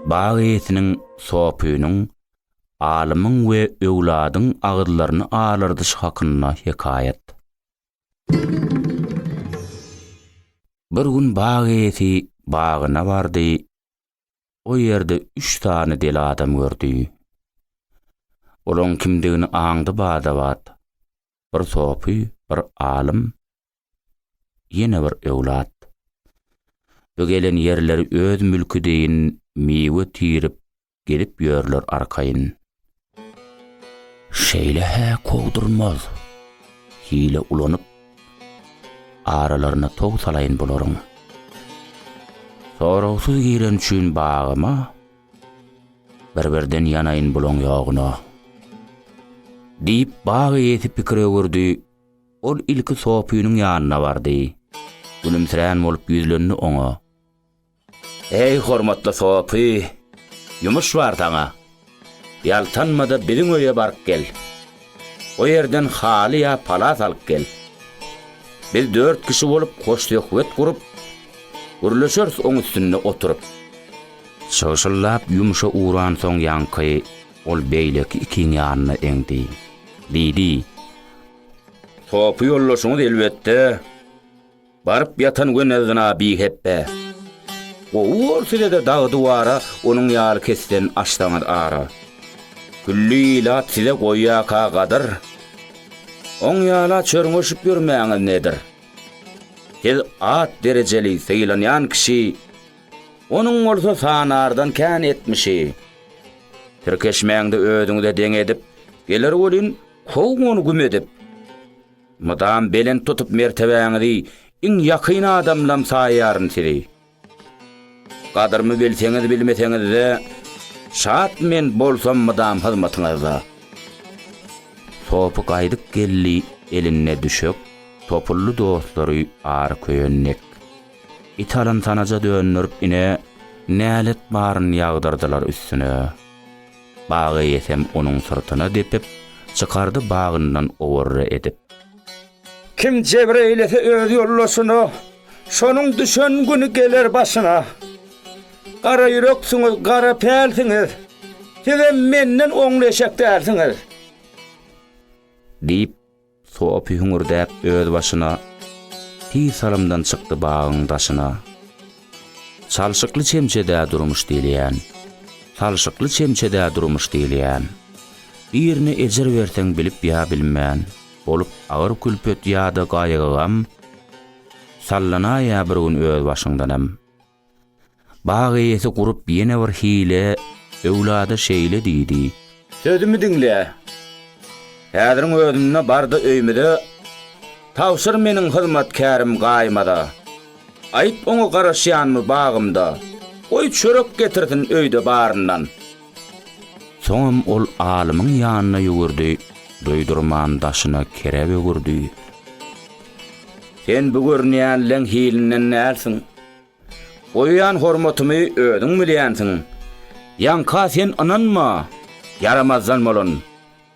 Bag eýesiniň sopynyň, alymyň we öwladyň agyzlaryny alardyşy hakynda hekaýat. Bir gün bag eýesi bagyna bardy, o ýerde üç sany deli adam gördi. Olaň kimdigini aňdy bada-bat, bir sopy, bir alym, Ýene bir öwlat. Bu gelen ýerleri öz mülki deýin miwe tirip gezip ýörler arkaýyn. Şeýle-hä kowdurmaz. Hile ulanyp, aralaryna tow salaýyn bularyň. Soragsyz giren üçin bagyma, bir-birden ýanaýyn bulaň ýoguna. Diýip, bag eýesi pikir öwürdi, Ol ilki Sopynyň ýanyna bardy. Gülümsirän bolup ýüzlendi oňa. Eý, hormatly Sopy, ýumuş bar saňa. Ýaltanma-da biziň öýe baryp gel. O ýerden haly ýa palas alyp gel. Biz dört kişi bolup hoşsöhbet gurup, gürleşeris oň üstünde oturyp. Şygşyllap ýumşa uransoň ýaňky ol beýleki ikiň ýanyna eňdi. Diýdi. Sopy ýoldaşyňyz elbetde baryp ýatan gönezina bihepbe. Gowy bor sizede dagy duwara onuň ýaly kesden açsaňyz ara. Külli ilat size goýýaka gadyr. Oň ýala çörňeşip ýörmäňiz nedir. Siz at derejeli sylanýan kişi onuň bolsa sanardan kän etmişi. Tirkeşmäňde özüňize deň edip geler welin How ony güm edip. Mydam belent tutup mertebäňizi iň ýakyn adamlam saýýaryn sizi. Gadrymy bilseňiz bilmeseňizde şat men bolsam mydam hyzmatyňyzda. Sopy gaýdyp geldi elinde düşek topuldy dostlary ary köýen dek. It alyn sanaja döndirip ine nälet baryn ýagdyrdylar üstüne. Bag eýesem onuň syrtyna depip, çykardy bagyndan owarra edip. Kim jebir eýlese öz ýoldaşyna, şonuň düşen güni geler başyna. Gara ýüreksiňiz, gara pälsiňiz, sizem menden oňly eşek dälsiňiz. Diýip, Sopy hüňürdäp öz başyna. Tiz salymdan çykdy bagyň daşyna. Çalşykly çemçedä durmuş diýilýän. Çalşykly çemçedä durmuş diýilýän. Birine ejir berseň bilip ýa bilmän. Bolup agyr külpet ýa-da gaýgy-gam. Sallanaýýar bir gün öz başyňdanam. Bag eýesi gurup ýene bir hile Öwlada şeýle diýdi. Sözümi diňle. Häziriň özünde bar-da öýmüze, Tabşyr meniň hyzmatkärim Gaýymaza. Aýt oňa garaşýanmy bagymda, Goý çörek getirsin öýde baryndan. Soňam ol alymyň ýanyna ýüwürdi, Duýdurman daşyna kere bögürdi. Sen bu görünýän leň hilinden dälsiň. Goýýan hormatymy özüň bilýänsiň. Ýaňka sen ynanma, ýaramazdan bolan.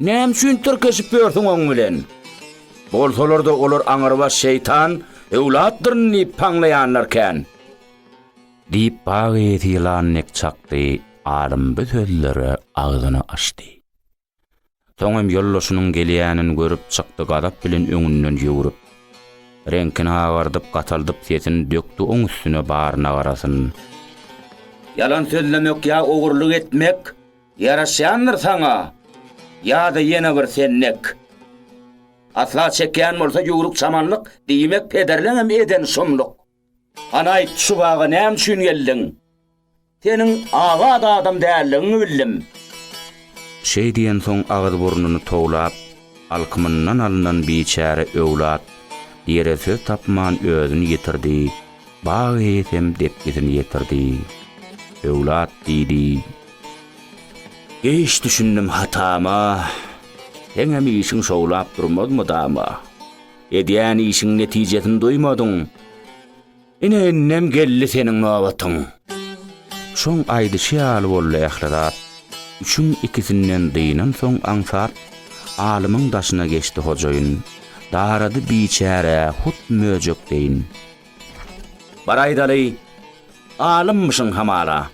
Näme üçin tirkeşip ýörsüň oň bilen? Bolsalar-da olar aňrybaş şeýtan öwlatlyryn diýip paňlaýanlar kän. Diýip bag eýesi ýylan dek çakdy, alym bu sözlere agzyny açdy. Soňam ýoldaşynyň gelýänini görüp çykdy gazap bilen öňünden ýüwrüp. Reňkini agardyp gataldyp sesini dökdi oň üstüne baryna garasyn. Ýalan sözlemek ýa ogurlyk etmek ýaraşýandyr saňa ýada ýene bir sennek. Asla çekýän bolsa ýüwrük çamanlyk diýmek pederleňem eden şumluk. Hany aýt, şu baga näme üçin geldiň? Seniň azat adam däldigiňi bildim. Şeý diýensoň agyz-burnuny towlap, alkymyndan alnan biçäre öwlat ýere söz tapman özüni ýitirdi, bag eýesem depgisini ýetirdi. Öwlat diýdi. Geýç düşündim hatama. Seňem işiň şowlap durmaz mydama. Edýän işiň netijesini duýmadyň. Ine indem geldi seniň nobatyň. Şoň aýdyşy ýaly boldy ähli zat. Üçüň ikisinden dynansoň aňsat, Alymyň daşyna geçdi hojaýyn. Darady biçärä hut möjek deýin. Bar aýdaly, alymmyşyň hamala.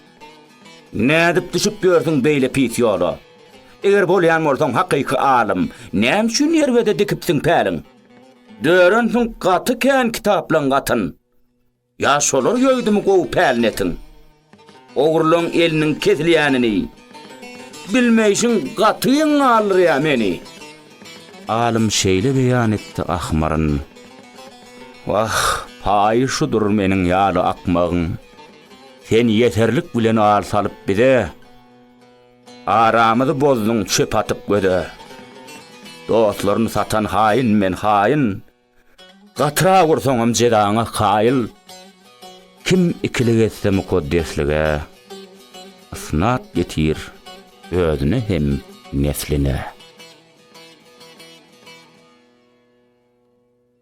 Nädip düşüp ýörsüň beýle pis ýola? Eger bolýan bolsaň hakyky alym, näme üçin ýerbede dikipsiň päliň? Dörensiň gaty kän kitaplaň gatyn. Ýa şolar ýoýdumy gowy pälnetin? Ogrylaň eliniň kesilýänini bilmeýşiň gaty geň galdyrýa meni. Alym şeýle beýan etdi ahmaryn. Wah, paýy şudur meniň ýaly akmagyň. Sen ýeserlik bilen al salyp bize, Aramyzy bozduň çöp atyp göze. Dostlaryny satan haýyn men haýyn, Gatyrak ursaňam jezaňa kaýyl. Kim ikilik etse mukaddeslige, Ysnat ýetir özüne hem nesline.